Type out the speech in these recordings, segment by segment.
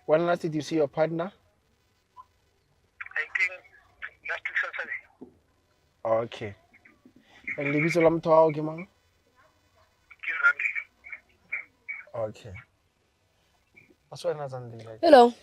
When last did you see your partner? I think last week Saturday. Okay. And lebitso la motho wa hao ke mang? Ke Zandile. Okay. What's your name, Zandile? Hello.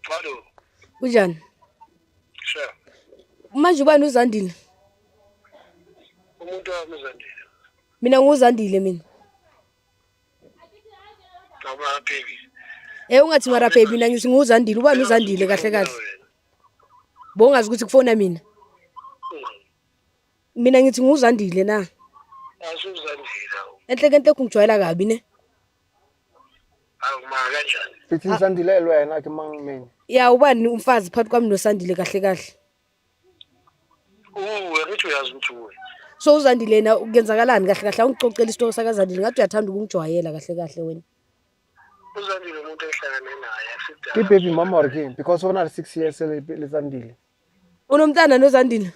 Hello. Kunjani? Sure. Manje ubani uZandile? Umuntu wami uZandile. Mina nguzandile mina. Eh ungathi mara baby mina ngithi nguzandile ubani uzandile kahle kahle. Bongazi ukuthi kufona mina. Mina ngithi nguzandile na. Asuzandile. Enhle kenhle kungijwayela kabi ne. Awuma kanjani? Sithi ngizandilelwe yena ke mangimeni. Ya ubani umfazi phakathi kwami nosandile kahle kahle. uwe ngithi uyazi ukuthi uwe so uzandile yena kuyenzakalani kahle kahle awungicocela isitoko sakazandile ngathi uyathanda ukungijwayela kahle kahle wena uzandile umuntu ehlangane naye sidala Ibaby mama or king because ona 6 years lesandile. unomntana nozandile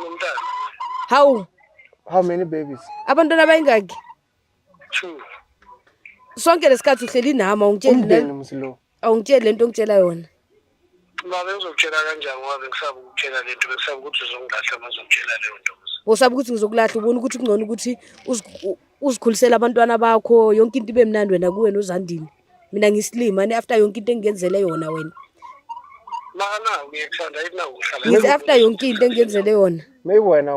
umntana hawu How many babies? abantwana abayingaki two sonke lesikhathi uhleli nami awungitsheli Umndeni msilo. awungitsheli lento ongitshela yona Baba ngizokutshela kanjani ngoba bengisaba ukutshela lento bengisaba ukuthi uzongilahla mazongitshela leyo nto. Usaba ukuthi ngizokulahla ubona ukuthi kungcono ukuthi uzikhulisele abantwana bakho yonke into ibe mnandi wena kuwena uzandini. Mina ngisilima ne after yonke into engenzele yona wena. Bana uyakuthanda yini na uhlala. Ngithi after yonke into engenzele yona. Meyiwena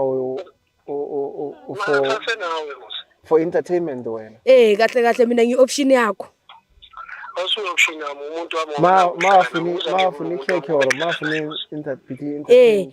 for entertainment wena eh kahle kahle mina ngi option yakho ma ma funi ma funi keke or ma funi interpret eh